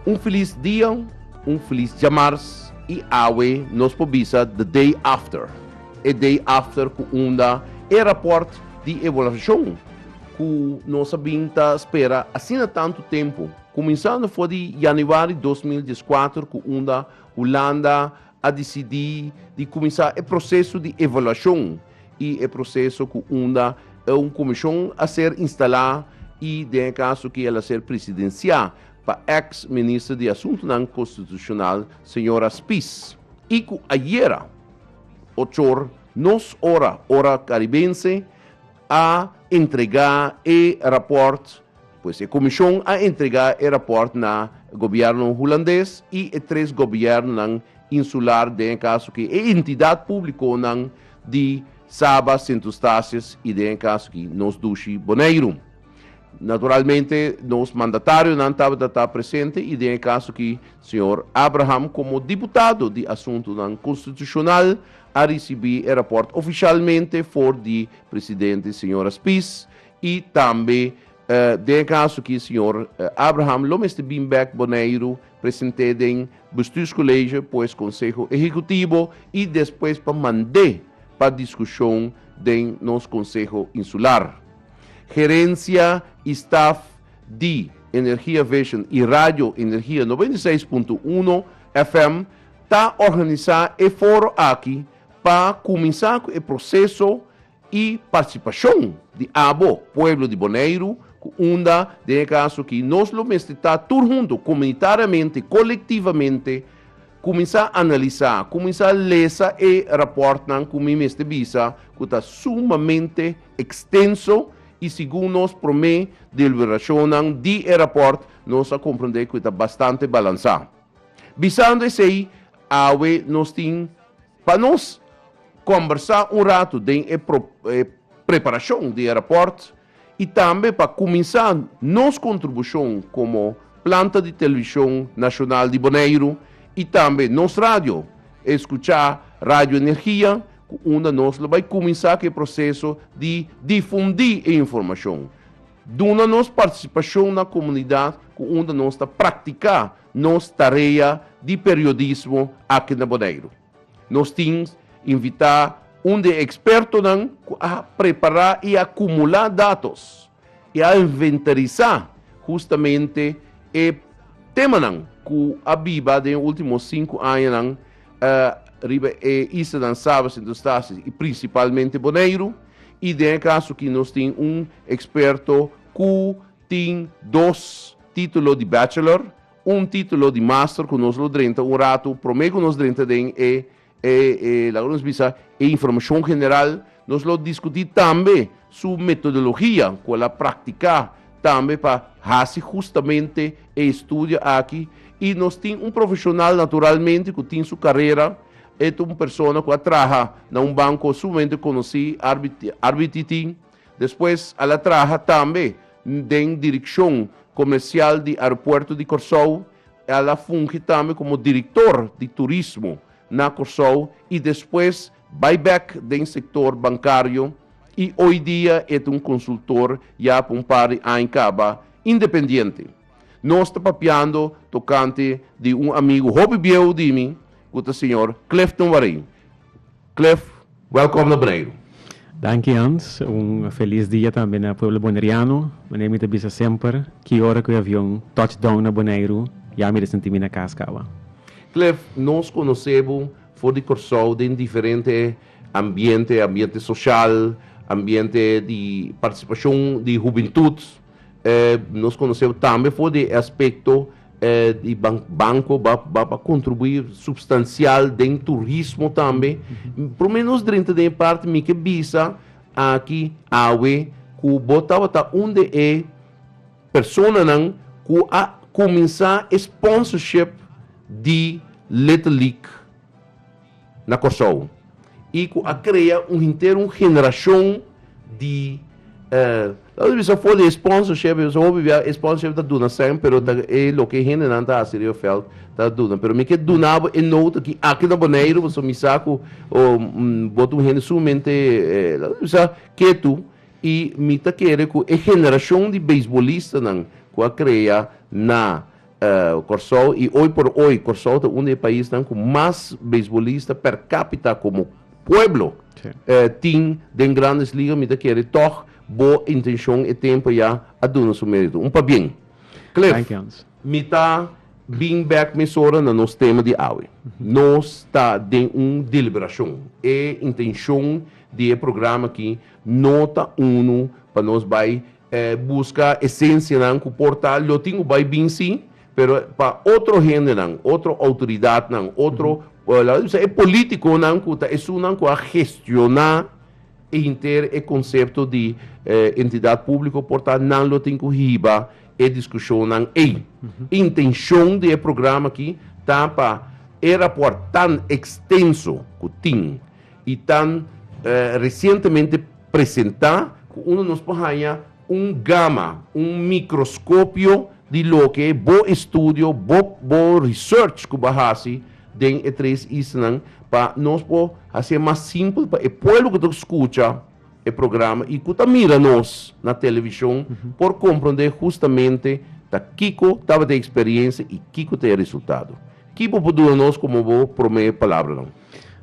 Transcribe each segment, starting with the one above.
Un filis dia, un filis djamars i awe nos por bisa the day after. E day after ku unda e raport di evaluashon ku nos a bin ta spera asina tantu tempu, kuminsando for di yanüari dos mil dies kuater ku unda Hulanda a disidí di kuminsá e proseso di evaluashon i e proseso ku unda e un komishon a ser instalá i den e kaso ku el a ser presidensiá pa ex Minister di Asuntunan Konstitushonal señora Spies i ku ayera ochor nos ora, ora Karibense, a entregá e rapòrt, pues e komishon a entregá e rapòrt na gobièrnu hulandes i e tres gobièrnunan insular den e kaso aki, e entidat públikonan di Saba, Sint Eustatius i den e kaso aki nos dushi Boneiru. Naturalmente nos mandatarionan tabata ta presente y den e caso aki señor Abraham como diputado di Asuntonan Constitucional a ricibi e rapport oficialmente for di Presidente señora Spies y tambe den e caso aki señor Abraham lo mester bin bek Boneiru presente den Bestuurscollege pues Conseho Ehecutivo y despues pa mande pa discusion den nos Conseho Insular. Gerencia y staff di Energia Vision y Radio Energia noventa y seis punto uno FM ta organisa e foro aki pa cuminsa cu e proceso y participacion di abo, pueblo di Boneiru, cu unda den e caso aki nos lo mester ta tur hunto, comunitariamente, colectivamente, cuminsa analisa, cuminsa lesa e raportnan cu mi mester bisa cu ta sumamente. extenso y segun nos prome deliberacionnan di e raport nos a comprende cu e ta bastante balansa. Bisando esey awe nos tin pa nos combersa un rato den e preparacion di e raport y tambe pa cuminsa nos contribucion como planta di Television Nacional di Boneiru y tambe nos radio, escucha Radio Energia ku unda nos lo bai kuminsá ku e proseso di difundí e informashon. Duna nos partisipashon na komunidat ku unda nos ta praktiká nos tarea di periodismo aki na Boneiru. Nos tin invitá un di e ekspertonan ku a prepará i a kumulá datos. I a inventarisá hustamente e temanan ku a biba den e último sinku añanan riba e islanan Saba, Sint Eustatius i prinsipalmente Boneiru. I den e kaso aki nos tin un eksperto ku tin dos título di bachelor, un título di master ku nos lo drenta un ratu promé ku nos drenta den e E laga nos bisa e informashon general, nos lo diskutí tambe su metodologia ku el a praktiká tambe pa hasi hustamente e estudio aki i nos tin un profeshonal naturalmente ku tin su karera, e ta un persona ku a traha na un banko sumamente konosí RBT tin, despues al a traha tambe den direkshon komersial di aeropuerto di Kòrsou. El a fungi tambe komo direktor di turismo na Kòrsou i despues bai bèk den sektor bankario i oi dia e ta un konsultor ya pa un par di aña kaba independiente. Nos ta papiando tokante di un amigu hopi bieu di mi ku ta señor Clifton Wareing. Cliff, welkom na Boneiru. Danki Hans, un felis dia tambe na pueblo boneriano. Manera mi ta bisa semper, ki ora ku e avion touch down na Boneiru, ya mi ta sinti mi na kas kawa. Cliff, nos konosé bo for di Kòrsou den diferente ambiente, ambiente soshal, ambiente di partisipashon di hubintut. Eh, nos conoce tambe for de aspecto eh, di ban banco va, va, va contribuir substancial den turismo tambe. Por menos drenta de parte mi que visa aquí awe cu botaba ta un de e personanan cu a comenzá e sponsorship di Little League. na Kòrsou i ku a krea un henter un generashon di la nos bisa for di e sponsorship pasobra hopi bia e sponsorship ta duna sèn pero ta e loke e hendenan ta hasi riba e vèlt ta duna pero mi ke duna bo e nout aki aki na Boneiru pasobra mi sa ku bo ta un hende sumamente la nos bisa ketu i mi ta kere ku e generashon di beisbolistanan ku a krea na Kòrsou i oy por oy Kòrsou ta un di e paisnan ku mas beisbolista per kápita komo pueblo tin den Grandes Liga. Mi ta kere tòg bo intenshon e tempu ya a duna su mérito. Un pabien Cliff. Mi ta bin bèk mesora na nos tema di awe. Nos ta den un deliberashon. E intenshon di e programa akí no ta unu pa nos bai. E buska esencianan cu por ta lo tin cu bay bin si, pero pa otro hendenan, otro autoridadnan, otro, laga di bisa e politiconan cu ta esunnan cu a gestiona hinter e concepto di entidad publico por ta nan lo tin cu hiba e discusionnan ey. Intencion di e programa aki ta pa e raportnan extenso cu tin, y tan recientemente presenta cu uno nos por haya un gama, un microscopio di loke bo estudio, bo bo research cu bo haci den e tres islanan pa nos por haci'e mas simpel pa e pueblo cu ta por scucha e programa y cu ta mira nos na television por comprende justamente ta kico tabata e experiencia y kico ta e resultado. Ki bo por duna nos como bo prome palabranan?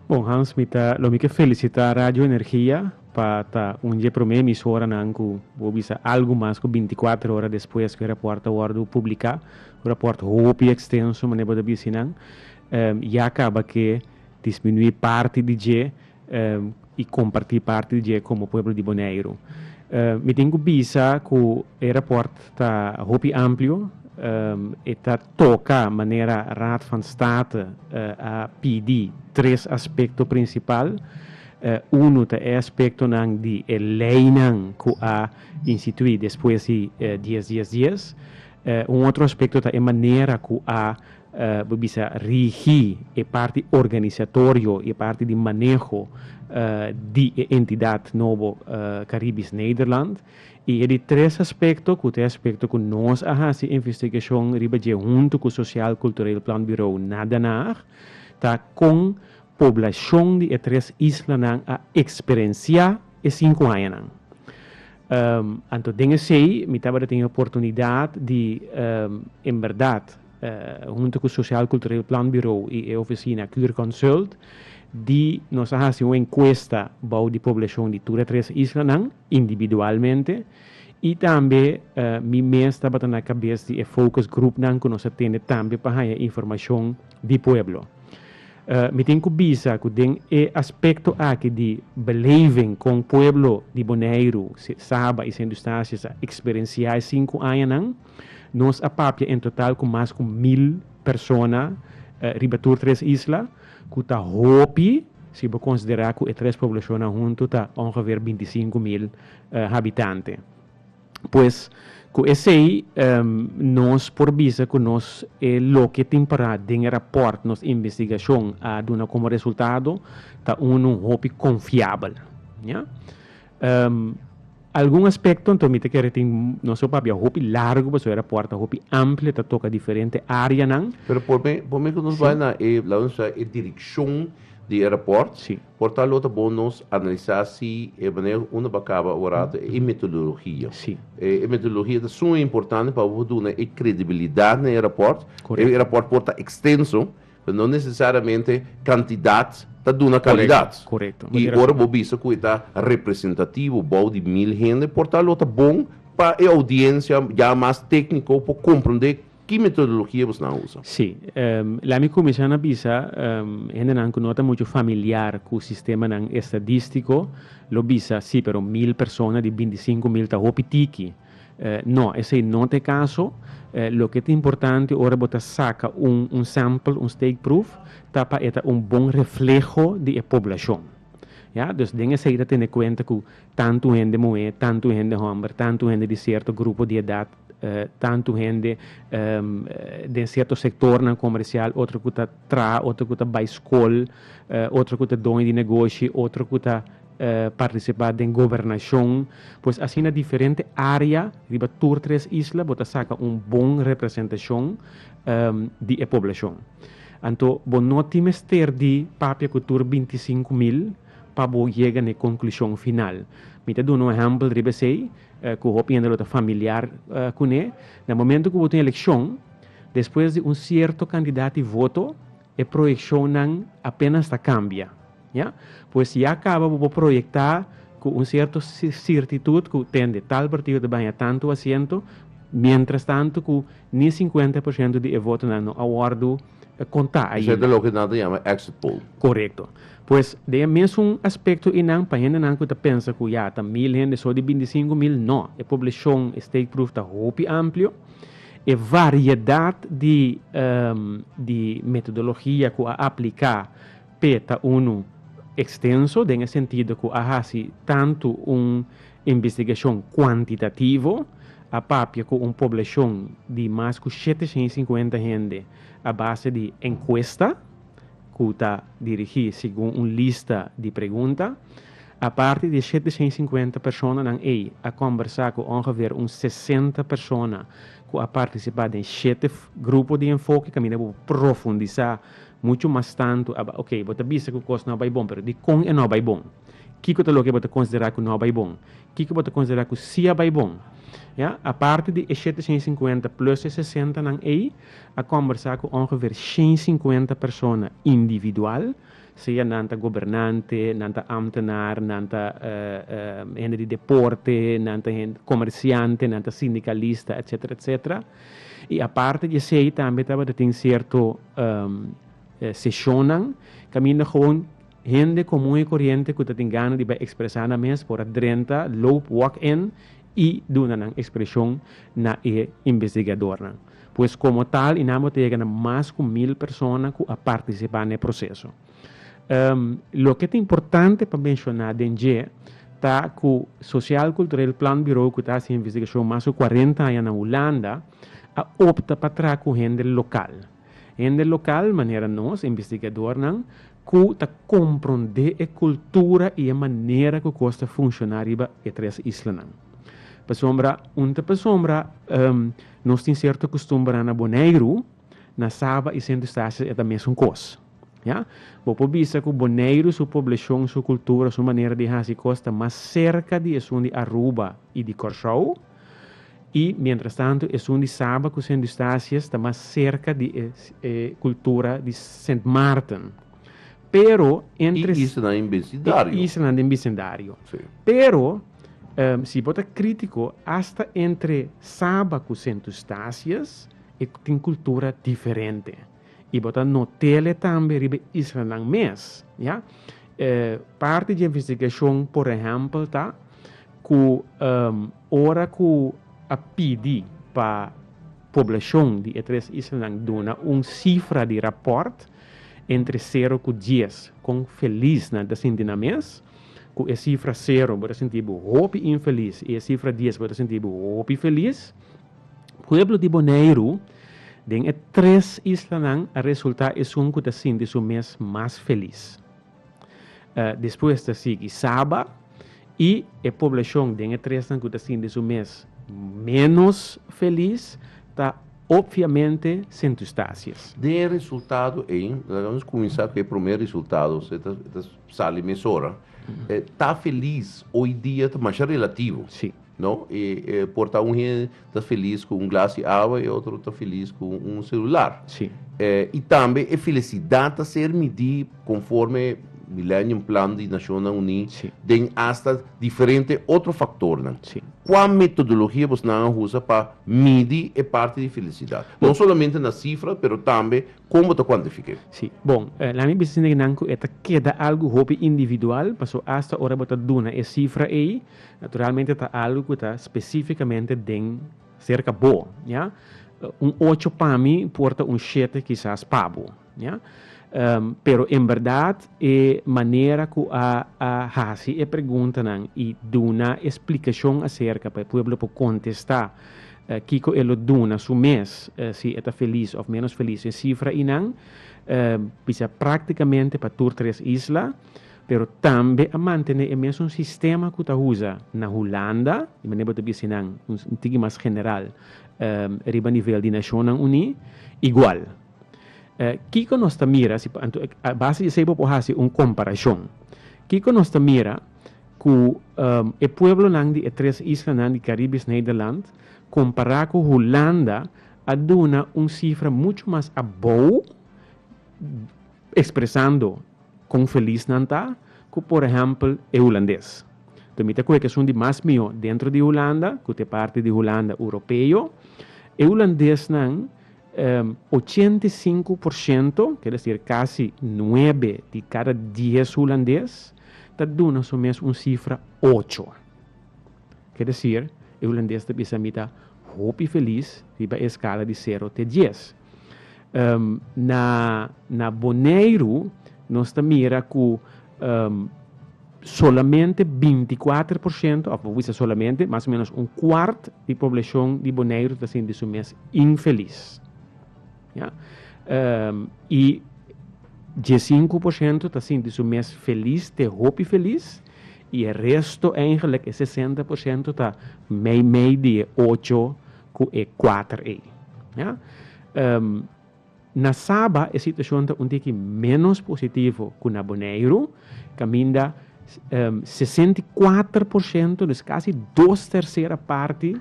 Bon Hans mi ta lo mi ke felisitá Radio Energia pa ta un dje promé emisoranan ku bo bisa algu mas ku bintikuater ora despues ku e rapòrt a wòrdu publiká, un rapòrt hopi ekstenso manera bo ta bisí nan. Ya kaba ke disminuí parti di dje i kompartí parti di dje komo pueblo di Boneiru. Mi tin ku bisa ku e rapòrt ta hopi amplio, e ta. Toca manera Raad van State a pidi tres aspecto principal. Uno ta e aspectonan di e leinan cu a institui despues di dies dies dies. Un otro aspecto ta e manera cu a bo bisa rigi e parti organisatorio y e parti di maneho di e entidad nobo Caribisch Nederland. I e di tres aspekto ku ta e aspekto ku nos a hasi investigashon riba dje huntu ku Sosial Kultureel Planbirou na Den Haag ta kon poblashon di e tres islanan a eksperensiá e sinku añanan. Anto den esei mi tabata tin e oportunidat di en bèrdat huntu ku Sosial Kultureel Planbirou i e ofisina Kuurconsult di nos a hasi un enkuesta bou di poblashon di tur e tres islanan. individualmente y tambe mi mes tabata na cabes di e focus groupnan cu nos a tene tambe pa haya informacion di pueblo. Mi tin cu bisa cu den e aspecto aki di beleving con pueblo di Boneiru, Saba y Sint Eustatius a experencia e sinku añanan, nos a papia en total cu mas cu mil persona riba tur tres isla, ku ta hopi si bo konsiderá ku e tres poblashonnan huntu ta ongeveer binti sinku mil habitante. Pues, ku esei nos por bisa ku nos e loke tin pará den e rapòrt nos investigashon a duna komo resultado ta unu hopi konfiabel. Algun aspekto anto mi ta kere tin nos e papia hopi largu pasobra e rapòrt ta hopi amplio, ta toka diferente áreanan. Pero por mi, por mi ku nos bai na e, la nos bai e direkshon di e rapòrt, Sí. por tal lo ta bon nos analisá si e manera ku unda bo a kaba bo rato e metodologia. Sí. E e metodologia ta suma importante pa bo por duna e kredibilidat na e rapòrt. Korekto. E rapòrt por ta ekstenso, No necesariamente cantidad ta duna calidad. Y ora bo bisa cu e ta representativo bao di mil hende, por tal lo ta bon pa e audiencia ya mas tecnico por comprende ki metodologia bo esnan a usa. Sí. Lami cuminsha na bisa, hendenan cu no ta mucho familiar cu sistemanan estadistico lo bisa, sí, pero mil persona di binti sinco mil ta hopi tiki. No, esei no ta e kaso. Loke ta importante ora bo ta saka un un sample, un steekproef, ta pa e ta un bon refleho di e poblashon. Ya, dus den esei ta tene kuenta ku tantu hende muhé, tantu hende hòmber, tantu hende di sierto grupo di edat, tantu hende den sierto sektornan komersial, otro ku ta traha, otro ku ta bai skol, otro ku ta doño di negoshi, otro ku ta. Partisipá den gobernashon, pues asina diferente área riba tur tres isla bo ta saka un bon representashon di e poblashon. Anto bo no tin mester di papia ku tur binti sinku mil pa bo yega na e konklushon final. Mi ta duna un ehèmpel riba esei ku hopi hende lo ta familiar kuné. Na momentu ku bo tin elekshon, despues di un sierto kandidat di voto, E proyeccionnan apenas ta cambia, ya. Pues ya caba bo por proyecta cu un cierto cirtitud cu tende tal partido ta baña tanto asiento, mientras tanto cu ni cincuenta por ciento di e votonan no a wordo conta ainda. Esey ta loke nan ta yama exit poll. Corecto. Pues den e mesun aspecto eynan pa hendenan cu ta pensa cu ya ta mil hende so di binti singu mil, no. E poblacion e steekproef ta hopi amplio. E variedat di di metodologia ku a apliká p'e ta unu ekstenso den e sentido ku a hasi tantu un investigashon kuantitativo, a papia ku un poblashon di mas ku shete shen i sinkuenta hende a base di enkuesta ku ta dirigí segun un lista di pregunta, Aparte di e shete shen sinkuenta personanan ei, a kòmbersá ku ongeveer un sesenta persona ku a partisipá den shete grupo di enfoke kaminda bo por profundisá muchu mas tantu aba. Oke, bo ta bisa ku kos no bai bon, pero dikon e no bai bon? Kiko ta loke bo ta konsiderá ku no bai bon? Kiko bo ta konsiderá ku sí a bai bon? Ya, aparte di e shete shen sinkuenta plùs e sesentanan ei, a kòmbersá ku ongeveer shen sinkuenta persona individual Sea nan ta gobernante, nan ta ambtenaar, nan ta hende di deporte, nan ta hende comerciante, nan ta sindicalista, etcetera, etcetera. Y aparte di esey tambe tabata tin cierto sesionnan caminda gewoon hende comun y corriente cu ta tin gana di bay expresa nan mes por a drenta, loop, walk-in, y duna nan expresion na e investigadornan. Pues komo tal i nan bo ta yega na mas ku mil persona ku a partisipá na e proseso. Loke ta importante pa menshoná den dje ta ku Sosial Kultureel Planbureau ku ta hasi investigashon mas ku kuarenta aña na Hulanda a opta pa traha ku hende lokal. Hende lokal manera nos, investigadornan, ku ta komprondé e kultura i e manera ku kos ta funshoná riba e tres islanan. Pasobra, un ta pasobra, nos tin serto kustumbernan na Boneiru, na Saba i Sint Eustatius e ta mesun kos. Ya. Bo por bisa ku Boneiru su poblashon, su kultura, su manera di hasi kos ta mas serka di esun di Aruba i di Kòrsou. I mientras tanto esun di Saba cu Sint Eustatius ta mas cerca di e e cultura di Sint Maarten. Pero entre. I islanan den bisindario. I islanan den bisindario. Si. Pero si bo ta critico hasta entre Saba cu Sint Eustatius e tin cultura diferente. I bo ta notéle tambe riba e islanan mes, ya. E parti dje investigashon, por ehèmpel, ta ku ora ku a pidi pa poblashon di e tres islanan duna un sifra di rapòrt entre sero ku dies kon felis nan ta sinti nan mes, ku e sifra sero bo ta sinti bo hopi infelis i e sifra dies bo ta sinti bo hopi felis. Pueblo di Boneiru den e tres islanan a resulta esun cu ta sinti su mes mas felis. Despues ta sigui Saba y e poblacion den e tresnan cu ta sinti su mes menos felis ta obviamente Sint Eustatius. Den e resultado ey, laga nos cuminsa cu e primer resultado, e ta sali mesora, ta felis oy dia ta masha relativo. No e e por ta un hende ta feliz ku un glas di awa e otro ta feliz ku un selular. Sí. Eh, y tambe e felicidad ta ser midí conforme Millennium Plan di Nacionnan Uní Sí. den hasta diferente otro factornan. Sí. Kua metodologia bosnan a usa pa midi e parti di felicidad? No solamente na cifra, pero tambe kon bo ta cuantifiké. Sí, bon, eh, laat mi bisa sindikinan ku e ta keda algu hopi individual, paso hasta ora bo ta duna e cifra ei, Naturalmente ta algo cu ta specificamente den cerca bo, ya. Un ocho pa mi por ta un shete kisas pa bo, ya. Pero en berdad e manera cu a a haci e preguntanan y duna e splicacion acerca pa e pueblo por contesta kico e lo duna su mes, si e ta feliz of menos feliz, e cifra eynan bisa practicamente pa tur tres isla, pero tambe a mantene e mesun sistema ku ta usa na Hulanda, di manera bo ta bisa nan un tiki mas general riba nivel di Nashonnan Uní, igual. Kiko nos ta mira si, a base di esei bo por hasi un komparashon. Kiko nos ta mira ku e pueblonan di e tres islanan di Karibes Nederland kompará ku Hulanda a duna un sifra muchu mas abou? Expresando con feliz nan ta cu por ehempel e Hulandes. Enton mi ta coge cu esun di mas miho dentro di Hulanda, cu ta e parti di Hulanda Europeo. E Hulandesnan ochenta i sinku por shento, quiere decir casi nuebe di cada dies Hulandes ta duna su mes un cifra ocho. Quiere decir e Hulandes ta bisa mi ta hopi feliz riba e escala di sero te dies. Um, na, na Boneiru, nos ta mira ku um, solamente 24 por shento, of we say solamente, mas o menos un kwart di poblashon di Boneiru ta sinti su mes infelis. Ja? Um, y 15 por shento ta sinti su mes felis, te hopi felis, y e resto eigenlijk, e 60 por shento ta mei mei di e ocho cu e cuater ey. Ya. Na Saba e situacion ta un tiki menos positivo cu na Boneiru, caminda sesenta i cuater por ciento, dus casi dos tercera parti,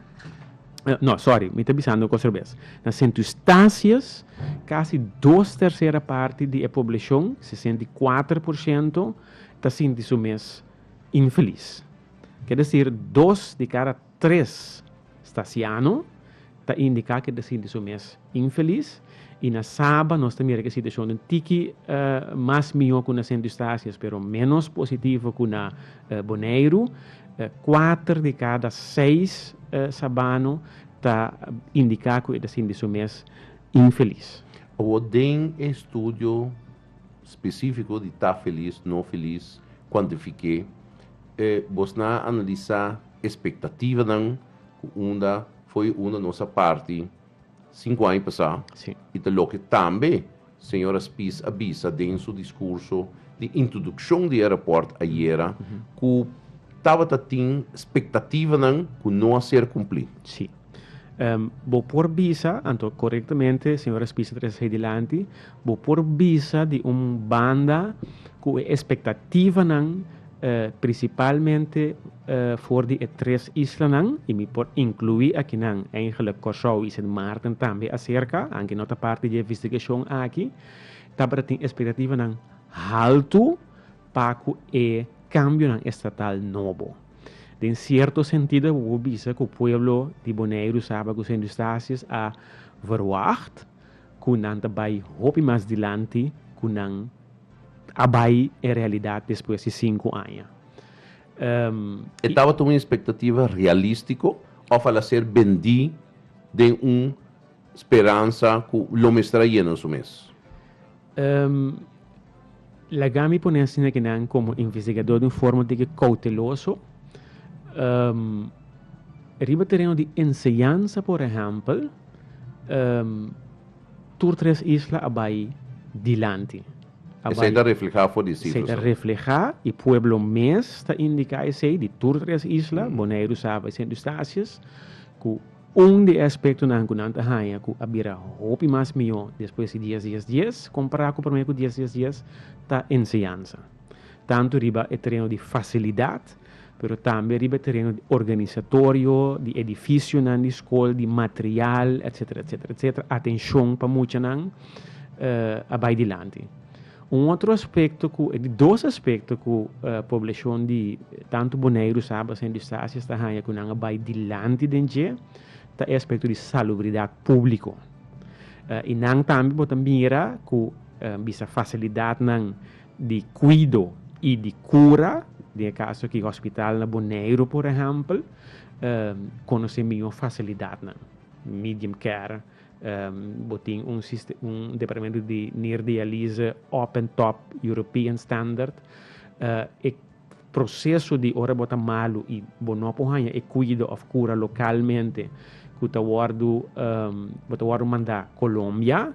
no, sorry, mi ta bisando cosa robes. Na Sint Eustatius, casi dos tercera parti di e poblacion, sesenta i cuater por ciento, ta sinti su mes infeliz. Kier decir, dos di cada. Tres stasiano ta indiká ku e ta sinti su mes infelis, i na Saba nos ta mira ku e situashon ta un tiki mas mihó ku na Sint Eustatius pero ménos positivo ku na Boneiru. Kuater di kada seis sabano ta indiká ku e ta sinti su mes infelis. Awor den e estudio. Spesífiko di ta felis, no felis, kuantifiké. E bosnan a analisá espektativanan ku unda fo'i unda nos a parti sinku aña pasá. Sí. I ta loke tambe señora Spies a bisa den su diskurso di introdukshon di e rapòrt ayera ku tabata tin spektativanan ku no a ser kumplí. Sí. Bo por bisa, anto korektamente si ora spisa trese hei dilanti, bo por bisa di un banda ku e espektativanan prinsipalmente for di e tres islanan i mi por inkluí akinan eigenlik Kòrsou i Sint Maarten tambe aserka, aunke no ta parti di e investigashon aki, tabata tin espektativanan haltu pa ku e kambionan estatal nobo. Den sierto sentido bo por bisa ku pueblo di Boneiru saba ku Sint Eustatius a verwagt ku nan ta bai hopi mas dilanti ku nan a bai en realidat despues di sinku aña. E tabata un espektativa realistiko òf a la ser bendí den un speransa ku lo mester a yena su mes? Laga mi pone asina ke nan komo investigadó den un forma di ke kouteloso. Riba tereno di enseñansa, por ehèmpel, tur tres isla a bai dilanti. Esei ta reflehá for di sifranan? Esei ta reflehá i pueblo mes ta indiká esei di tur tres isla, Boneiru, Saba i Sint Eustatius, ku. Un di e aspektonan ku nan ta haña ku a bira hopi mas mihó despues di dies dies dies kompará ku promé ku dies dies dies ta enseñansa, tantu riba e tereno di fasilidat pero tambe riba e tereno di organisatorio, di edifisionan di skol, di material, etsetera etsetera etsetera. Atenshon pa muchanan a bai dilanti. Un otro aspecto cu, e dos aspecto cu poblacion di tanto Boneiru, Saba, Sint Eustatius ta haya cu nan a bay dilanti den dje, ta e aspecto di salubridad publico. Y nan tambe bo ta mira cu bisa facilidadnan di cuido y di cura, den e caso aki hospital na Boneiru por ehempel, conoce mijo facilidadnan, medium care. Bo tin un departamento di neerdialyse op en top European standard. E proseso di ora bo ta malu i bo no por haña e kuido òf kura lokalmente ku ta wòrdu bo ta wòrdu mandá Colombia.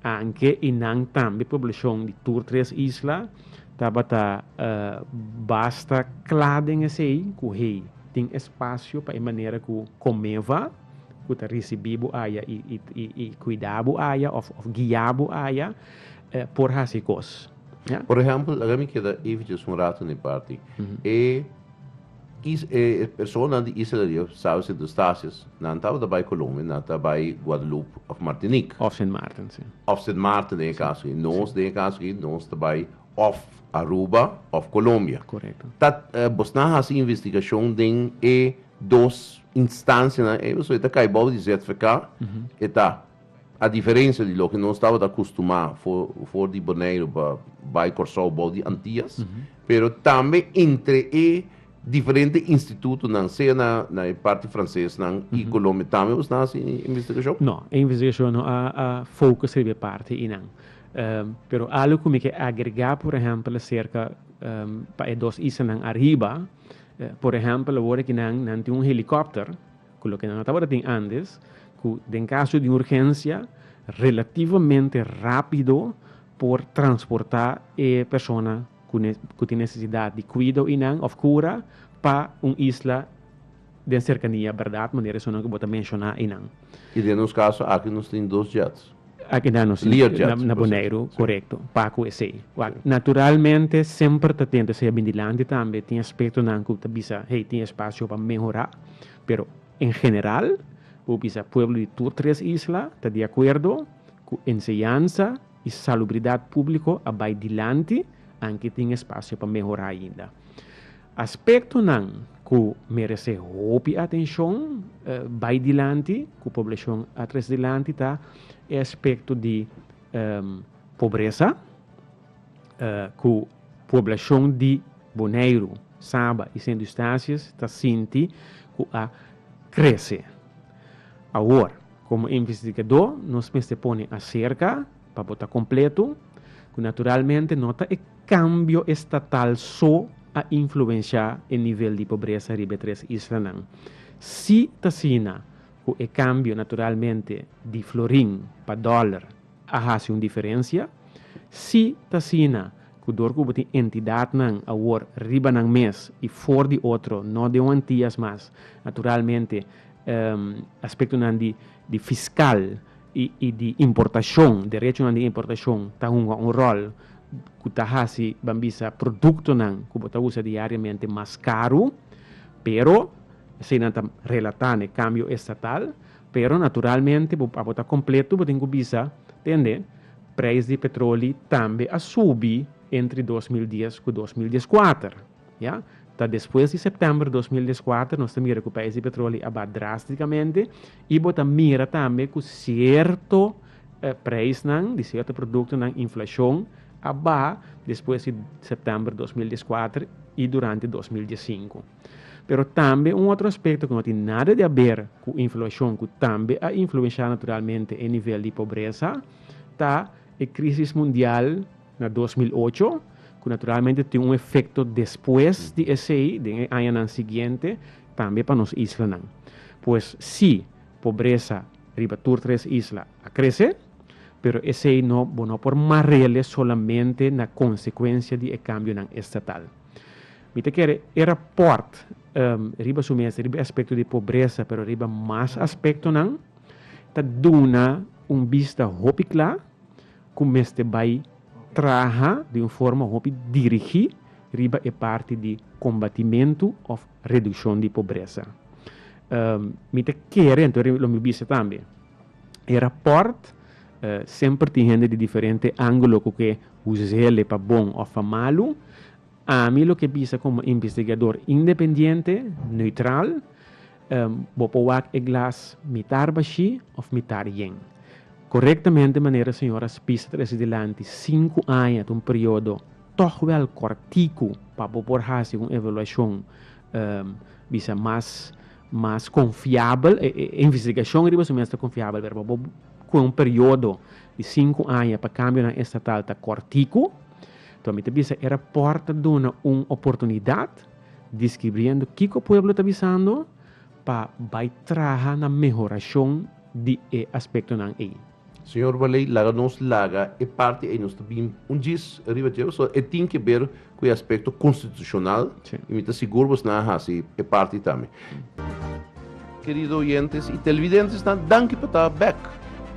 Anke i nan tambe poblashon di tur tres isla tabata basta kla den esei ku hey tin espasio pa e manera ku Comeva, ku ta risibí bo aya i kuidá bo aya òf guiá bo aya por hasi kos. Por ehèmpel, laga mi keda evitjes un ratu n'e parti. E personanan di Israel riba sabi si dos stasies, nan tabata bai Colombia, nan ta bai Guadalupe òf Martinique. Òf Sint Maarten, si. Òf Sint Maarten den e kaso aki. Nos den e kaso aki, nos ta bai òf Aruba òf Colombia. Korekto. Ta bosnan hasi investigashon den e. dos instancianan ey, so e ta cay boven di ZVK, e ta, a diferencia di loke nos tabata custumá for, for di Boneiru pa bay Corsou boven di Antias, pero tambe entre e diferente institutonan, sea na, na e parti francesnan y Colombia, tambe bo sta haci e investigacion? No, e investigacion no a, a focus riba e parti eynan. pero algo cu mi ke agregá, por ehempel, acerca pa e dos isanan ariba, Por ehèmpel, awor aki nan, nan tin un helikòpter, ku loke nan a tabata tin antes, ku den kaso di un urgensia relativamente rápido por transportá e persona ku tin nesesidat di kuido i nan, òf kura, pa un isla den serkania, bèrdat? Manera esun nan ku bo ta menshoná einan. I den nos kaso aki nos tin dos jèts. A keda nos Learjets na Boneiru, korekto, Paco esei. Wak, naturalmente semper ta tenta esei a bini dilanti tambe, tin aspektonan ku ta bisa hey tin espasio pa mehorá, pero en general bo bisa pueblo di tur tres isla ta di akuerdo ku enseñansa i salubridat públiko a bai dilanti anke tin espasio pa mehorá ainda. Aspektonan ku meresé hopi atenshon bai dilanti ku poblashon a tres dilanti ta e aspekto di pobresa ku poblashon di Boneiru, Saba i Sint Eustatius ta sinti ku a krese. Awor, komo investigadó nos mester pone aserka Pa bo ta completo, cu naturalmente no ta e cambio estatal so a influencia e nivel di pobreza riba e tres islanan. Si t'asina cu e cambio naturalmente di florin pa dollar a haci un diferencia, si t'asina cu door cu bo tin entidadnan awor riba nan mes y for di otro, no den Antillas mas, naturalmente aspectonan di fiscal y di importacion, derechonan di importacion ta hunga un rol cu ta haci ban bisa productonan cu bo ta usa diariamente mas caru, pero esey nan ta relata na e cambio estatal, pero naturalmente bo abo ta completo bo tin cu bisa tende prijs di petroli tambe a subi entre dos mil dies cu dos mil dieskuater. Ya ta despues di september dos mil dies kuater nos ta mira ku preis di petroli a ba drástikamente i bo ta mira tambe ku sierto preisnan di sierto produktonan inflashon a ba despues di september dos mil dies kuater i durante dos mil dies sinku. Pero tambe un otro aspekto ku no tin nada di aber ku inflashon ku tambe a influenshá naturalmente e nivel di pobresa ta e krísis mundial, Na dos mil ocho, ku naturalmente tin un efekto despues di esei, den e añanan siguiente, tambe pa nos islanan. Pues si, pobresa riba tur tres isla a krese, pero esei no, bo no por mar'ele solamente na konsekuensia di e kambionan estatal. Mi ta kere e rapòrt, riba su mes, riba e aspekto di pobresa, pero riba mas aspektonan, ta duna un bista hopi kla, ku mester bai traha di un forma hopi dirigí riba e parti di kombatimentu òf redukshon di pobresa. Mi ta kere anto lo mi bisa tambe e rapòrt semper tin hende di diferente ángulo ku ke huzele pa bon òf pa malu. Ami lo ke bisa komo investigador independiente, neutral. Bo por wak e glas mitá arbashí òf mitá rién. Korektamente manera señora Spies ta trese dilanti, sinku aña ta un periodo tòg wèl kòrtiku pa bo por hasi un evaluashon bisa mas mas konfiabel. E investigashon riba su mes ta konfiabel pero pa bo ku'e un periodo di sinku aña pa kambionan estatal ta kòrtiku. Nton mi ta bisa e rapòrt ta duna un oportunidat. Discribriendo kico pueblo ta bisando pa bay traha na mehoracion di e aspectonan ey. Señor Waley, laga nos laga e parti ey, nos ta bin un djis riba dje, so e tin ke ber cu e aspecto constitucional, Sí. y mi ta sigur bos nan a haci e parti tambe. Kerido oyentes y televidentenan, danki pa ta bek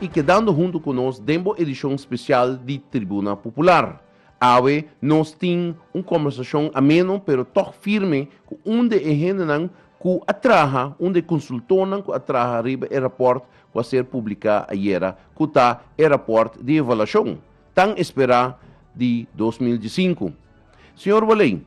y kedando hunto cu nos den bo edicion special di Tribuna Popular. Awe nos tin un kombersashon ameno pero tòg firme ku un di e hendenan ku a traha, un di e konsultornan ku a traha riba e rapòrt ku a ser publiká ayera, ku ta e rapòrt di evaluashon tan esperá di dos mil diesinku. Señor Waley,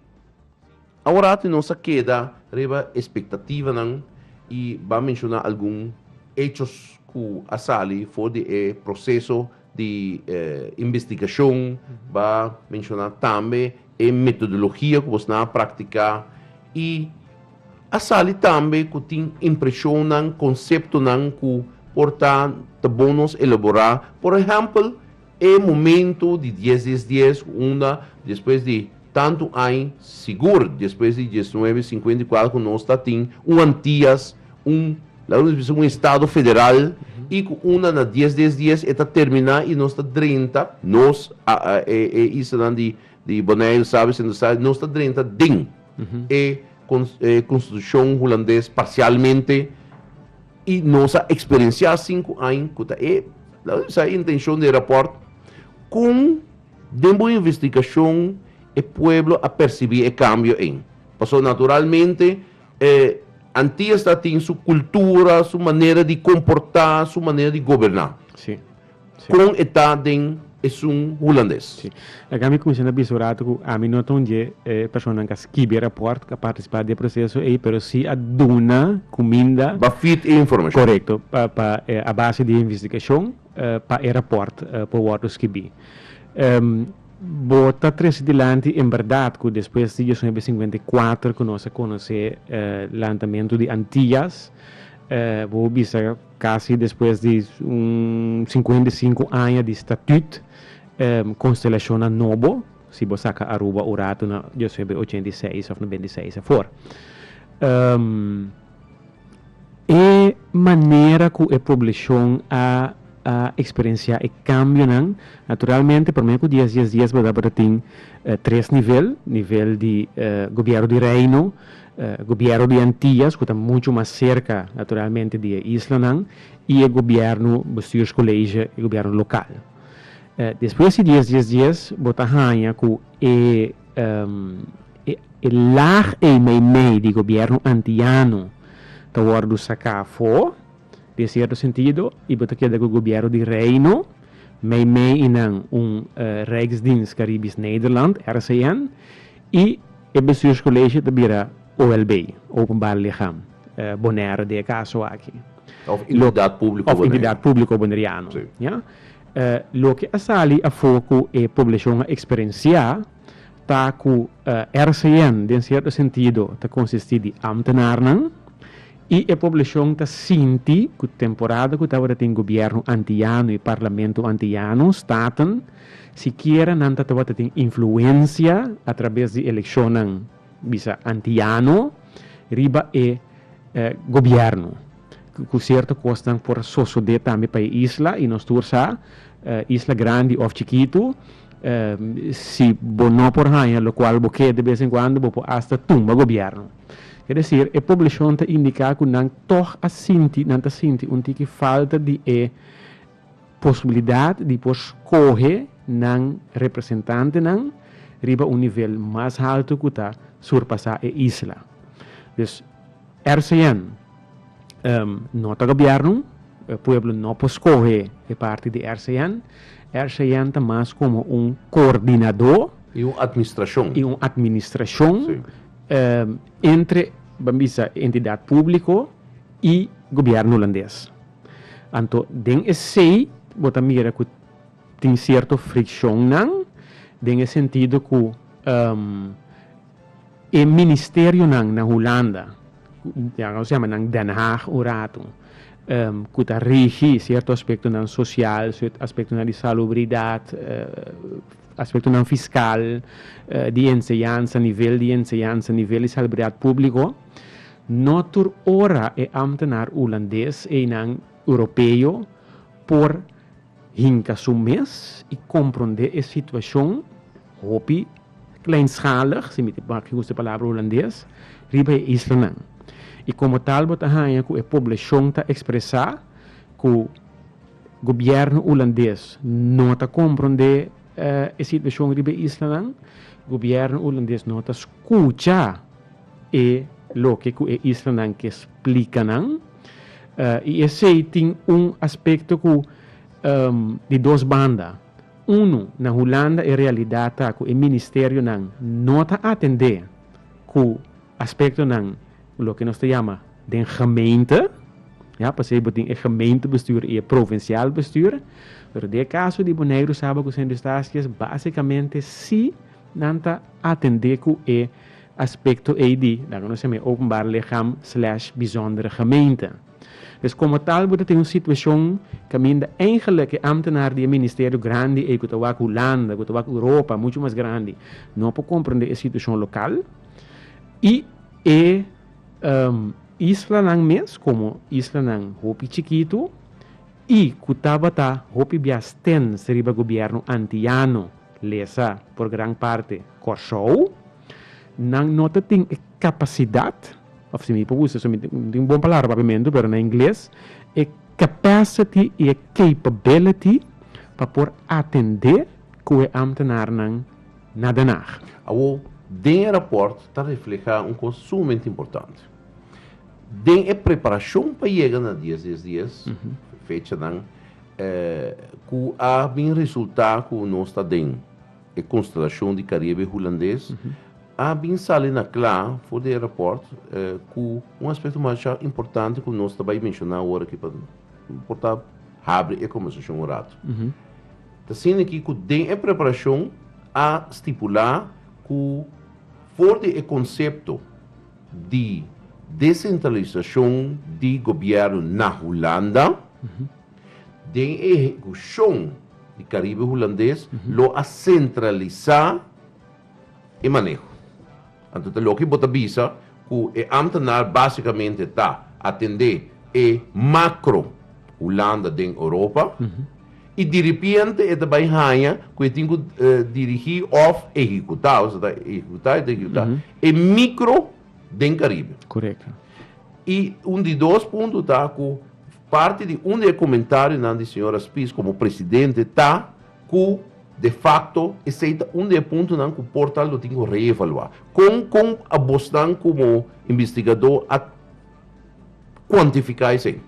aworati nos a keda riba espektativanan i ban menshoná algun echos ku a sali for di e proseso di investigashon ba menshoná tambe e metodologia ku bosnan a praktiká i a sali tambe ku tin impreshonnan, konseptonan ku por ta ta bon nos elaborá. Por ehèmpel, e momentu di dies dies dies unda despues di Tantu añ sigur despues di diesnuebe sinkuenta i kuater ku nos ta tin un Antias, un, laga nos bisa un estado federal, i ku unda na dies des dies e ta terminá i nos ta drenta, nos, a, a, e, e islanan di, di Boneiru, Sabie, Sint Eustatius, nos ta drenta den e kons, e konstitushon hulandes parsialmente i nos a eksperensiá sinku añ ku ta e, laga nos bisa e intenshon di e rapòrt, kon. Den bo investigashon e pueblo a persibí e kambio ei. Pasobra naturalmente e antias ta tin su kultura, su manera di komportá, su manera di goberná. Sí. Sí. Kon e ta den esun hulandes. Sí. Akí ami kuminsá ta bisa un ratu ku ami no ta un dje e personanan ku a skibi rapòrt, ku a partisipá di e proseso ei, pero sí a duna kuminda. Ba fit e informashon. Korekto. Pa, pa, a base di e investigashon. pa e raport por wordo skibí. Bo ta trese dilanti en berdad cu despues di diosnuebe sinkuenta i kuater cu nos a conoce lantamentu di Antillas, bo por bisa casi despues di un sinkuenta i sinku aña di statut, constelacionnan nobo, si bo saca Aruba un ratu na diosnuebe ochenta i seis of na benti seis afor. E manera ku e poblashon a a eksperensiá e kambionan, naturalmente promé ku dies dies dies bo ta bo ta tin tres nivel, nivel di gobièrnu di Reino, gobièrnu di Antias ku ta muchu mas serka naturalmente di e islanan i e gobièrnu bestuurskolege, e gobièrnu lokal. Despues di dies dies dies bo ta haña ku e. E lag ei meimei di gobièrnu antiano ta wòrdu saká afó den sierto sentido i bo ta keda ku gobièrnu di Reino, meimei i nan un Rijksdienst Caribisch Nederland, RCN, i e bestuurskolege ta bira OLB, Openbaar Lichaam Bonaire den e kaso aki. Òf Entidat Públiko Boneiru. Òf Entidat Públiko Boneriano. Loke a sali afó ku e poblashon a eksperensiá ta ku RCN den sierto sentido ta konsistí di ámtenarnan i e poblashon ta sinti ku temporada ku tabata tin gobièrnu antiyano i parlamento antiyano, staten, sikiera nan ta tabata tin influensia atrabes di elekshonnan bisa antiyano. riba e Gobierno cu cierto cosnan por a sosode tambe pa e isla y nos tur sa isla grandi of chikitu si bo no por haya lo cual bo ke de bes en cuando bo por hasta tumba Gobierno. Ke decir e poblacion ta indica cu nan tog a sinti nan ta sinti un tiki falta di e. Posibilidat di por skohe nan representantenan riba un nivel mas haltu ku ta surpasá e isla. Dus RCN no ta gobièrnu, e pueblo no por skohe e parti di RCN. RCN ta mas komo un koordinadó. I un atmistrashon. I un atmistrashon entre, ban bisa, e entidat públiko i gobièrnu hulandes. Anto den esei bo ta mira ku tin sierto frikshonnan den e sentido ku e ministerionan na Hulanda, nos yama nan Den Haag un ratu, ku ta rigi sierto aspektonan sosial, aspektonan di salubridat, aspektonan fiskal, di enseñansa, nivel di enseñansa, nivel di salubridat públiko. No tur ora e amtenar Hulandes einan Europeo por hinka su mes i komprondé e situashon hopi kleinschalig, si mi ta mak yus e palabra Hulandes, riba e islanan. I komo tal bo ta haña ku e poblashon ta ekspresá ku gobièrnu Hulandes no ta komprondé e situashon riba e islanan, gobièrnu Hulandes no ta skucha. e loke ku e islanan ke splika nan, i esei tin un aspekto ku di dos banda. Unu, na Hulanda e realidat ta ku e ministerionan no ta atendé ku aspektonan loke nos ta yama den gemeente, ya, pasei bo tin e gemeentebestuur i e provinsial bestuur, pero den e kaso di Boneiru sa bo ku Sint Eustatius basikamente si. Nan ta atendé ku e aspekto ei di nan ku nos ta mira openbare ligham slash bizondere gemeente. Pues komo tal bo ta tin un situashon kaminda eingelik e amtenar di e ministerio grandi ei ku ta wak Hulanda, ku ta wak Europa, muchu mas grandi, no por komprendé e situashon lokal i e islanan mes komo islanan hopi chikitu i ku tabata hopi bias tens riba gobièrnu antiyano. Lesa, por gran parti, Kòrsou. Nan no ta tin e kapasidat, òf si mi por usa esun, mi tin un bon palabra papiamentu, pero na ingles, e capacity i e capability pa por atendé ku e ámtenarnan na Den Haag. Awor, den e rapòrt ta reflehá un kos sumamente importante. Den e preparashon pa yega na dies, dies, dies, fechanan, E ku a bin resultá ku nos ta den e konstelashon di Karibe Hulandes a bin sali na kla for di e rapòrt ku un aspekto masha importante ku nos ta bai menshoná awor aki pa por ta habri e kombersashon un ratu. Ta siña aki ku den e preparashon a stipulá ku for di e konsepto, di desentralisashon di gobièrnu na Hulanda, den e ehekushon di Karibe Hulandes lo a sentralisá e maneho. Anto ta loke bo ta bisa ku e ámtenar básikamente ta atendé e makro Hulanda den Europa i diripiente e ta bai haña ku e tin ku dirigí òf ehekutá, ohseta ehekutá, e ta ehekutá, E micro den Caribe. Correcto. Y un di dos punto ta cu parte di un di e comentarionan di señora Spies como presidente ta cu de facto esey ta un di e puntonan cu por tal lo tin cu reevalua. Con con abosnan como investigador a kuantifiká esei.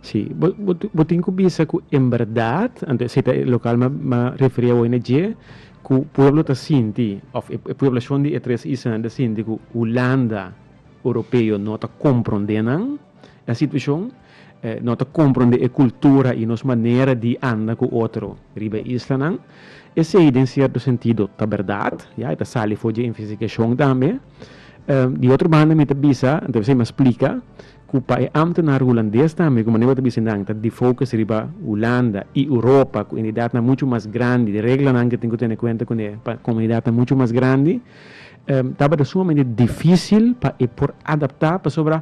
Sí, bo bo bo tin ku bisa ku en bèrdat, ante si ta e lokal mi a mi a referí awor na dje, ku pueblo ta sinti òf e pueblashon di e tres islan ta sinti ku Hulanda, Oropeo no ta komprondé nan e situashon, no ta komprondé e kultura i nos manera di anda ku otro riba e islanan. Esei den sierto sentido ta bèrdat, ya, e ta sali for dje investigacion tambe. Di otro banda mi ta bisa, anto esei mi a splika, ku pa e ámtenar hulandes tambe, ku manera ku bo ta bisa nan, ta di focus riba Hulanda i Europa, ku entidatnan muchu mas grandi, di reglanan ku tin ku tene kuenta kuné pa komunidatnan muchu mas grandi, tabata sumamente difísil pa e por adaptá pasobra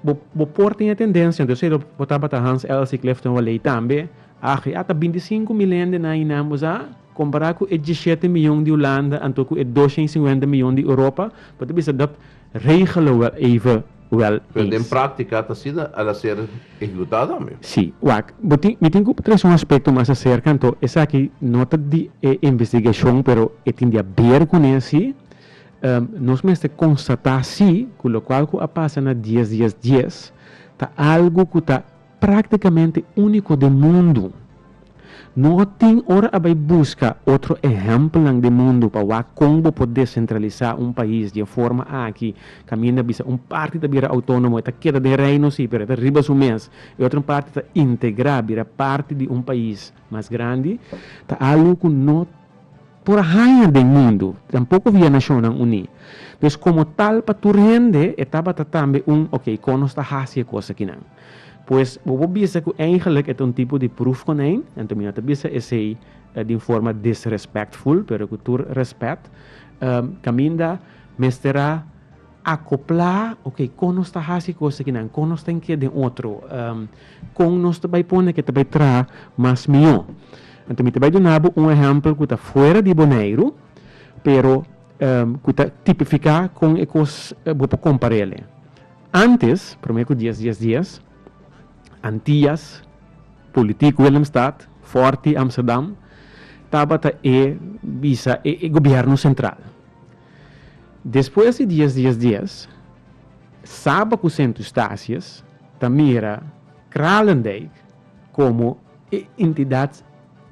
bo bo por tin e tendensia, anto esei lo bo tabata Hans Elsig Clifton Houelley tambe, ach, ya ta binti sinku mil hende nan einan bo sa. Compará cu e diesshete mion di Hulanda anto cu e dosha i singuenta mion di Europa, bo ta bisa dat regelen wel even wel Pero den es. practica ta asina al a ser ehecuta tambe. Si. Wak, bo tin, mi tin cu trece un aspecto mas acerca anto esaki no ta di e investigacion pero e tin di haber cu ne si. Nos mester constata si cu locual cu a pasa na diez dies dies ta algo cu ta. Práktikamente úniko den mundu. No tin ora a bai buska otro ehèmpelnan den mundu pa wak kon bo por desentralisá un pais di e forma aki, kaminda bisa un parti ta bira outónomo, e ta keda den reino sí, pero e ta riba su mes, e otro parti ta integrá bira parti di un pais mas grandi, ta alu ku no. Por a haña den mundu, tampoco via Nacionnan Uní. Pues como tal pa tur hende e tabata tambe un ok, con nos ta haci e cos akinan? Pues bo por bisa cu eigenlijk e ta un tipo di proef con hen, anto mi no ta bisa esey di un forma disrespectful, pero cu tur respet, caminda mester a. Akoplá, Oke, kon nos ta hasi kos akinan? Kon nos ta ink'é den otro? Kon nos ta bai pone ke ta bai traha mas mihó? Anto mi ta bai duna bo un ehèmpel ku ta fuera di Boneiru, pero ku ta tipifiká kon e kos bo por kompará el'e. Ántes, promé ku dies dies dies, Antias, politiku Willemstad, fòrti Amsterdam, tabata e bisa e gobièrnu sentral. Despues di dies dies dies, Saba ku Sint Eustatius ta mira Kralendijk komo e entidat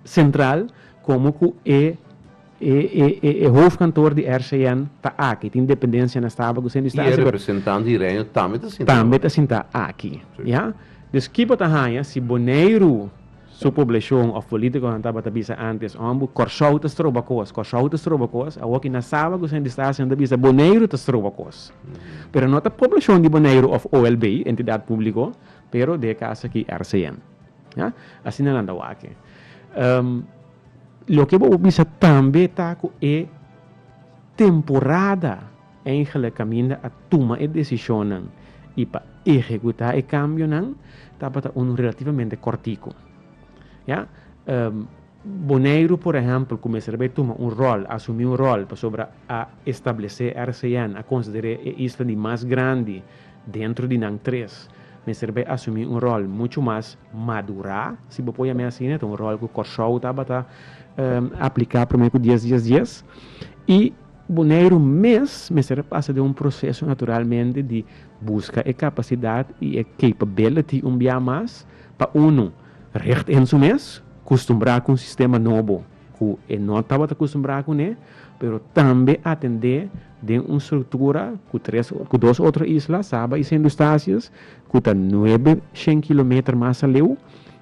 sentral, komo ku e e hofkantoor di RCN ta aki. Tin dependensia na Saba ku Sint Eustatius. I e representant di Reino tambe ta sinta. Tambe ta sinta aki. Ya. Dus kiba ta haña si Boneiru. Su poblashon òf polítikonan tabata bisa ántes, Òmbu, Kòrsou ta stroba kos, Kòrsou ta stroba kos. Awor ki nan saba ku esaki ta hasi, nan ta bisa, Boneiru ta stroba kos. Pero no ta poblashon di Boneiru òf OLB, Entidat Públiko, pero de e kas aki RCM. Ya. Asina nan ta wak. Loke bo por bisa tambe ta ku e temporada. Engelnan kaminda a tuma e desishonnan i pa ehekutá e kambionan tabata unu relativamente kòrtiku. Ya, Boneiru, por ehèmpel, kumesa ta bai tuma un ròl, asumí un ròl, pasobra a establesé RCN, a konsider'é e isla di mas grandi dentro di nan tres, mester bai asumí un ròl muchu mas madurá, si bo poi amé asina, ta un ròl ku Kòrsou tabata apliká promé ku dies, dies, dies, i. Boneiru mes mester a pasa den un proseso naturalmente di buska e kapasidat i e capability un bia mas pa unu richt en su mes kustumbrá ku un sistema nobo ku e no tabata kustumbrá kuné, pero tambe atendé den un struktura ku tres ku dos otro isla, Saba i Sint Eustatius, ku ta nuebe shen kilometer mas aleu,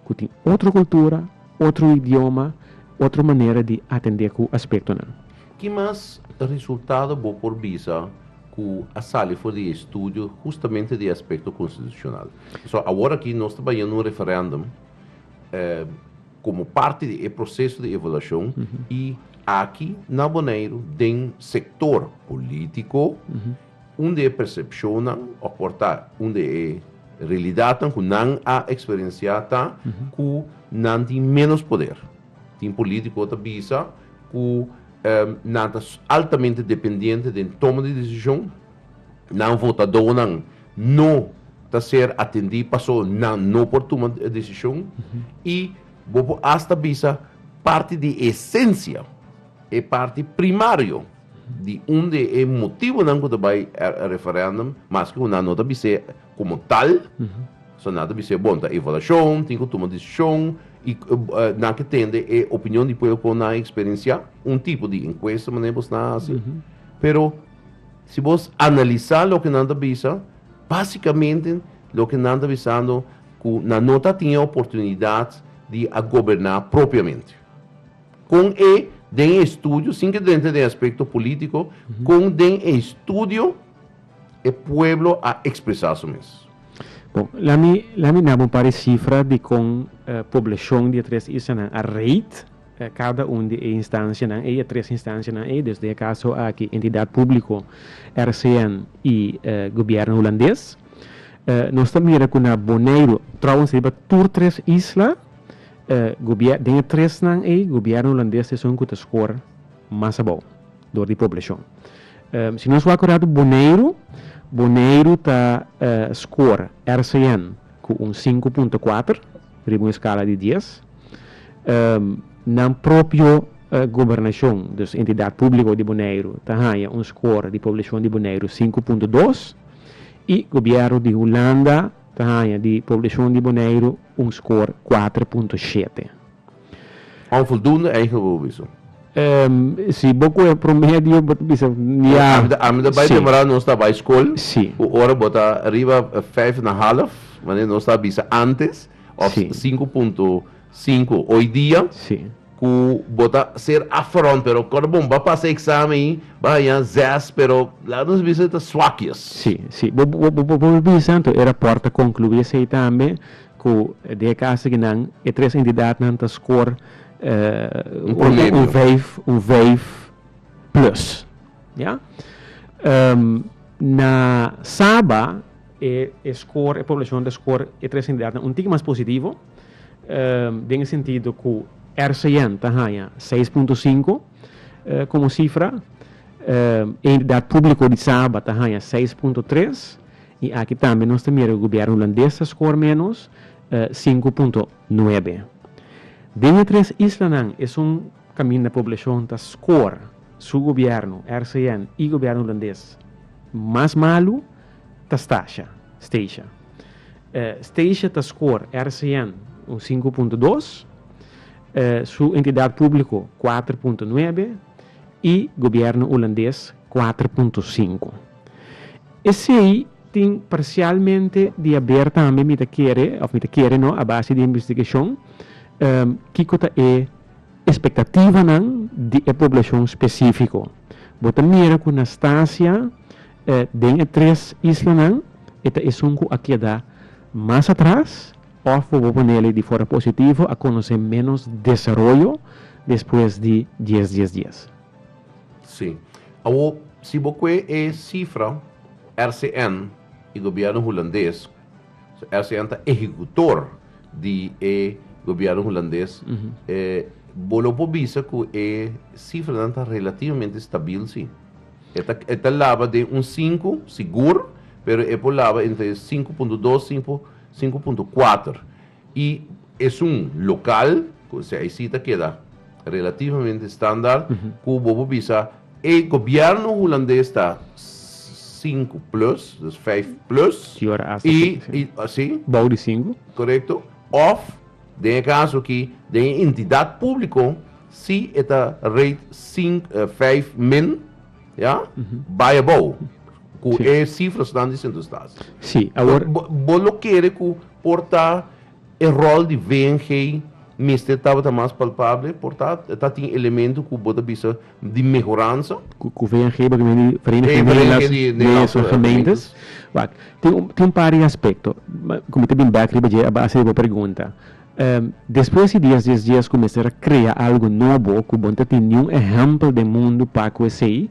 ku tin otro kultura, otro idioma, otro manera di atendé ku aspektonan. Ki mas resultado bo por bisa ku a sali for di e estudio hustamente di e aspekto konstitushonal? So awor aki nos ta bañando un referèndum komo parti di e proseso di evaluashon i aki na Boneiru den sektor polítiko un di e persepshonnan òf por ta un di e realidatnan ku nan a eksperensiá ta ku nan tin ménos poder. Tin polítiko ta bisa ku nan ta altamente dependiente den toma di desishon, nan votadonan no ta ser atendí paso nan no por tuma desishon i bo por asta bisa parti di esensia, e parti primario di un di e motibonan ku ta bai referèndum, maske ku nan no ta bis'é. Komo tal, so nan ta bisa e bon ta evaluashon, tin ku tuma desishon, i nan ke tende e opinion di pueblo ku nan a eksperensiá, un tipo di enkuesta manera bos nan a hasi. Pero si bos analisá loke nan ta bisa, básikamente loke nan ta bisando ku nan no ta tin e oportunidat di a goberná propiamente. Kon e den e estudio, sin ke drenta den aspekto polítiko, kon den e estudio, E pueblo a expresa su mes. Bon, lami lami nabo un par di cifra di con e poblacion di e tres islanan a rate cada un di e instancianan ey, e tres instancianan ey, desde e caso aki Entidad Publico, RCN y e Gobierno Hulandes. E nos ta mira cu na Boneiru, trouwens riba tur tres isla, e gobier den e tresnan ey, Gobierno Hulandes esun cu ta score mas abou. dor di poblashon. Si nos wak kurato Boneiru, Boneiru ta skor RCN ku un sinku punto kuater riba un eskala di dies. Nan propio gobernashon, dus entidat públiko di Boneiru ta haña un skor di poblashon di Boneiru sinku punto dos i gobièrnu di Hulanda ta haña di poblashon di Boneiru un skor kuater punto shete. Onvoldoende eigen woordenwisseling. Si bo koe promedio bo ta bisa ya. Ami ta bai temprano nos ta bai school. Si. Ku ora bo ta riba vijf na half wanneer nos ta bisa antes of sinku punto sinku hoy dia. Si. Ku bo ta ser afront pero kor bo ba pasa examen ei ba haña zes pero laat nos bisa ta swakjes. Si si bo por bisa anto e rapport ta conclui esei tambe. Ku den e kasa ki nan e tres endidatnan ta skor Un promemio. un vijf, un vijf plus. Ya. Na Saba e e skor, e poblashon ta skor e tres endidatnan un tiki mas positivo, den e sentido ku RCN ta haña seis punto sinku komo sifra, e endidat públiko di Saba ta haña seis punto tres. I aki tambe nos ta mira ku Gobièrnu Hulandes ta skor ménos sinku punto nuebe. Den e tres islanan esun kaminda poblashon ta skor su gobièrnu, RCN, i Gobièrnu Hulandes mas malu ta Stasha, Steisha. Steisha ta skor RCN un sinku punto dos, su entidat públiko kuater punto nuebe i Gobièrnu Hulandes kuater punto sinku. Esei tin parsialmente di haber tambe mi ta kere of mi ta kere no a base di e investigashon kiko ta e espektativanan di e poblashon spesifiko. Bo ta mira ku na Stasia den e tres islanan e ta esun ku a keda mas atras of bo por ponele di forma positivo a konosé ménos desaroyo despues di dies dies dies. Sí. Awor, si bo kue e sifra, RCN i gobierno hulandes, so RCN ta ehecutor di e gobierno hulandes, e, bo lo por bisa cu e sifranan ta relativamente stabil, sí. E ta, e ta laba den un sinku, sigur, pero e por laba entre sinku punto dos, sinku, sinku punto kuater. I esun lokal, ku esei aisi ta keda relativamente standaard, ku bo por bisa e gobièrnu hulandes ta sinku plus, dus vijf plus, Di ora asta i, sinku, si. i, si, Bou di sinku. korekto, òf den e kaso aki den e entidat públiko si e ta rate sink, vijf min. Ya? Bai abou ku e sifrasnan di sentro stasi. Si, awor. Bo, bo lo kere ku por ta e rol di VNG mester tabata mas palpable, por ta ta tin elemento ku bo ta bisa di mehoransa? Ku, ku VNG bo ta mira di Vereniging Nederlandse Gemeentes. Wak, tin, tin un par di aspekto. Kuma ta bin bèk riba dje, a base di bo pregunta. Despues di dies dies dies ku mester a krea algu nobo ku bon ta tin niun ehèmpel den mundu pa ku esei,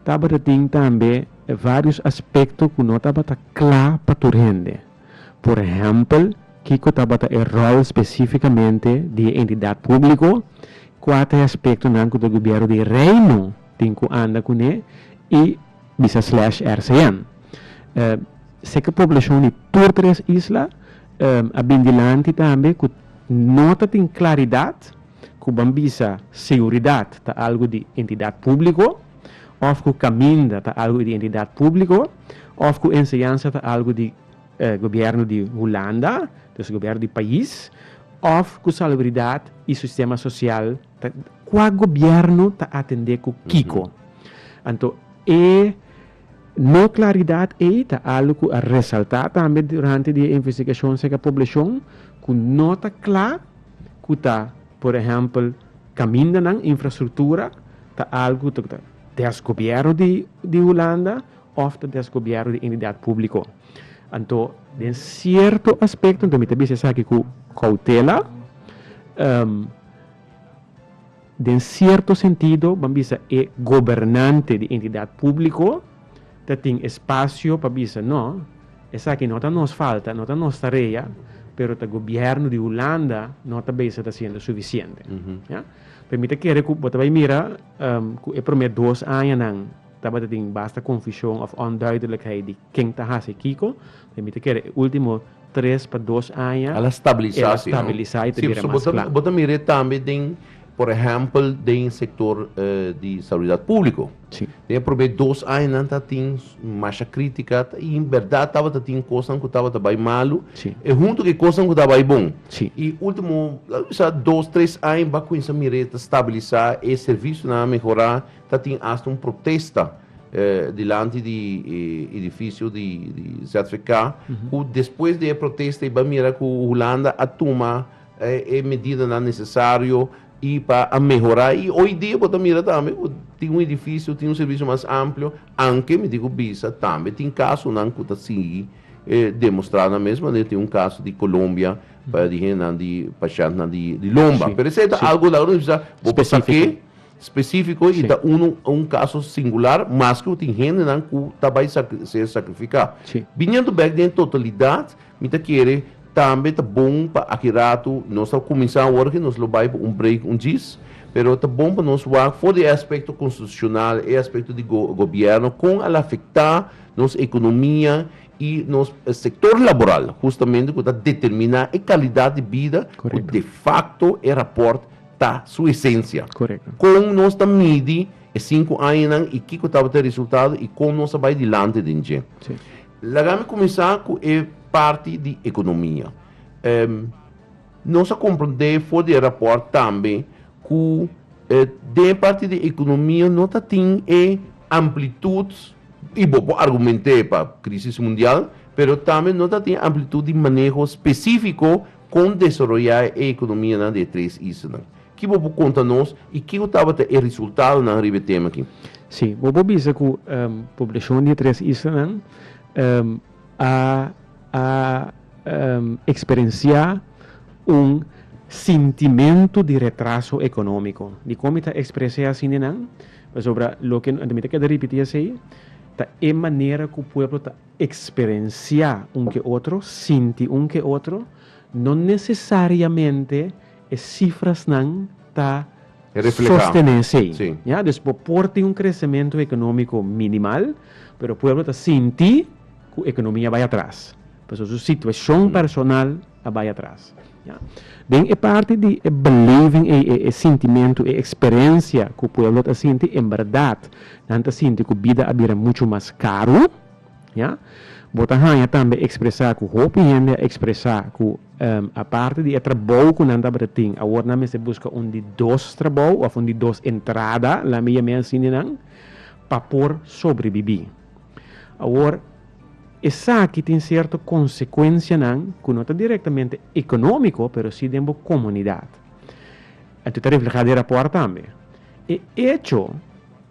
tabata tin tambe vários aspekto ku no tabata kla pa tur hende. Por ehèmpel, kiko tabata e ròl spesífikamente di e entidat públiko, kua ta e aspektonan ku ta gubièru di e Reino tin ku anda kuné i, Bisa slash RCN. Seke poblashon di tur tres isla a bin dilanti tambe ku no ta tin klaridat ku ban bisa seguridat ta algu di entidat públiko òf ku kaminda ta algu di entidat públiko òf ku enseñansa ta algu di gobièrnu di Hulanda, dus gobièrnu di pais, òf ku salubridat i sistema sosial. Ta kua gobierno ta atende ku kiko. Anto e no klaridat ei ta algu ku a resaltá tambe durante di e investigashon aserka poblashon ku no ta kla ku ta por ehèmpel kamindanan, infrastruktura ta algu ku ta desgobièrnu di Hulanda òf ta desgobièrnu di entidat públiko. Anto den sierto aspekto, anto mi ta bisa esaki ku koutela. Den sierto sentido ban bisa e gobernante di entidat públiko ta tin espasio pa bisa, No, esaki no ta nos falta, no ta nos tarea, pero ta gobièrnu di Hulanda no ta bisa ta hasiendo sufisiente. Ya? P'e mi ta kere ku bo ta bai mira ku e promé dos añanan tabata tin basta konfushon òf onduidelijkheid di ken ta hasi kiko, E mi ta kere e ultimo tres pa dos aña el a stabilisa si no? e ta bira mas kla. Si, bo ta mir'é tambe den, por ehèmpel, den sektor di salubridad públiko. Si. Den e probé dos aña nan ta tin masha krítika i in bèrdat tabata tin kosnan ku tabata bai malu Si. i huntu ku e kosnan ku ta bai bon. Si. I ultimo, latu di sa dos, tres aña, ba kuminsá mir'é ta stabilisa, e servisionan a mehorá. Ta tin asta un protesta dilanti di e idifisio di ZVK, ku despues di e protesta i bai mira ku Hulanda a tuma e medidanan nesesario i pa a mehorá. I oidia bo ta mira tambe ku tin un idifisio, tin un servisio mas amplio, aunke mi tin ku bisa tambe tin kasunan ku ta sigui demostrá nan mes manera tin un kaso di Colombia di hendenan di pashèntnan di lomba. Pero esei ta algu laga nos bisa bo ta ke. Spesífiko i ta un kaso singular, maske ku tin hendenan ku ta bai ser sakrifiká. Biniendo bèk den totalidat, mi ta kere tambe ta bon pa aki ratu, nos ta kuminsá awor ke nos lo bai pa un break un djis, pero ta bon pa nos wak for di e aspekto konstitushonal, e aspekto di gobièrnu, kon al afektá nos ekonomia i nos sektor laboral, hustamente ku ta determiná e kalidat di bida ku defakto e rapòrt ta su esencia. Correcto. Con nos ta midi e cinco añanan y kico tabata e resultado y con nos a bay dilanti den dje? Sí. Laga mi cuminsa cu e parti di economia. Em, nos a comprende for di e rapport tambe cu eh, den e parti di economia no ta tin e amplitud y bo por argumente pa crisis mundial, pero tambe no ta tin amplitud di maneho specifico Kon desaroyá e ekonomianan di e tres islanan? Ki bo por konta nos i kiko tabata e resultadonan riba e tema aki? Sí, bo por bisa ku poblashon di e tres islanan a a eksperensiá un sintimentu di retraso ekonómiko. Dikon mi ta ekspres'é así nenan? Pasobra loke anto mi ta keda ripití esei ta e manera ku pueblo ta. Eksperensiá un ke otro, sinti un ke otro, no nesesariamente e sifrasnan ta sostené esei. Dus bo por tin un kresementu ekonómiko minimal, pero pueblo ta sinti ku ekonomia bai atras, pasobra su situashon personal. ta bai atras. Den e parti di e beleving ei, e sintimentu, e eksperensia ku pueblo ta sinti, en bèrdat nan ta sinti ku bida a bira muchu mas karu. Bo ta haña tambe ekspresá ku hopi hende a ekspresá ku aparte di e trabou ku nan tabata tin, awor nan mester buska un di dos trabou òf un di dos entrada, laminamei asin di nan, pa por sobrebibí. Awor, esaki tin sierto konsekuensianan ku no ta direktamente ekonómiko pero si den bo komunidat. Anto ta reflehá den e rapòrt tambe. E echo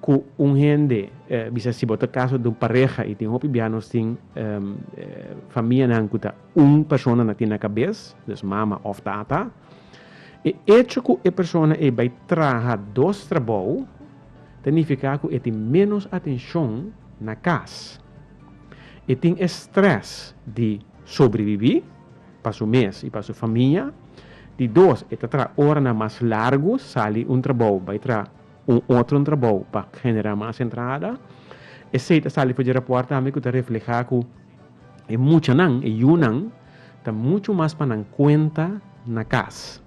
ku un hende bisa si bo ta kaso den un pareha i tin hopi bia nos tin famianan ku ta un persona na tin na kabes, dus mama òf tata, E echo ku e persona ei bai traha dos trabou ta nifiká ku e tin ménos atenshon na kas. E tin e strès di sobrebibí pa su mes i pa su famia. Di dos, e ta traha oranan mas largu, sali un trabou bai traha un otro trabou pa generá mas entrada. Esei ta sali for di rapòrt tambe ku ta reflehá ku E muchanan, e yunan, ta muchu mas pa nan kuenta na kas.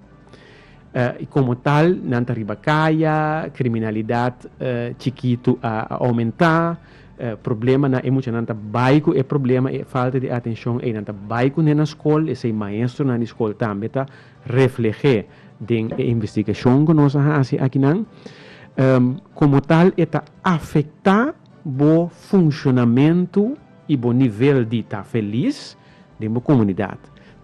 I komo tal, nan ta riba kaya, kriminalidat chikitu a oumentá, problema na e muchanan ta bai ku e problema, e falta di atenshon ei, nan ta bai kuné na skol, esei maestronan di skol tambe ta refleh'é den e investigashon ku nos a hasi akinan. Komo tal e ta afektá bo funshonamentu y bo nivel di ta feliz den bo comunidad.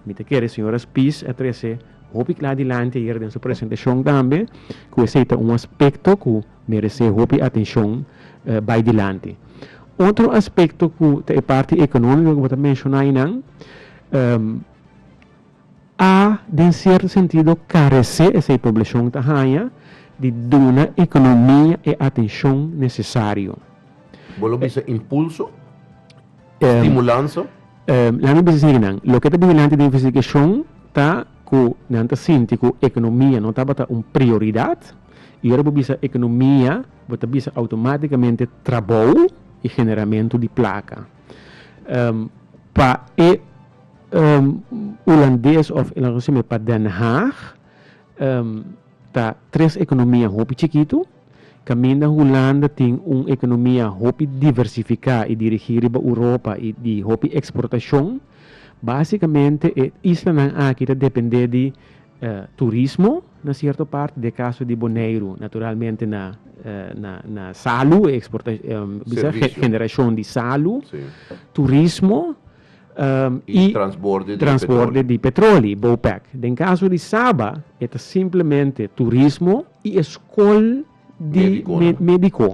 Mi ta kere Señora Spies a trece hopi cla dilanti ayer den su presentacion tambe cu esey ta un aspecto cu merece hopi atencion bay dilanti. Otro aspecto cu ta e parti economico cu bo ta menciona aynan, a den cierto sentido carece esey poblacion ta haña di duna economia e atencion necesario. Bo lo bisa impulso? Stimulansa? Laat mi bisa esey di nan. Loke ta bin dilanti den investigacion ta cu nan ta sinti cu economia no tabata un prioridad y ora bo bisa economia bo ta bisa automaticamente trabou y generamento di placa. Pa e. Hulandes of el a recibe pa Den Haag ta tres economia hopi chikitu, caminda Hulanda tin un economia hopi diversifica y dirigi riba Europa y di hopi exportacion. Basicamente e islanan aki ta depende di turismo na cierto parti, den e caso di Boneiru naturalmente na na salu, e exporta, bisa? Generacion di salu, turismo. i transborde di petroli, Bopec. Den kaso di Saba e ta simplemente turismo i e skol di mediko.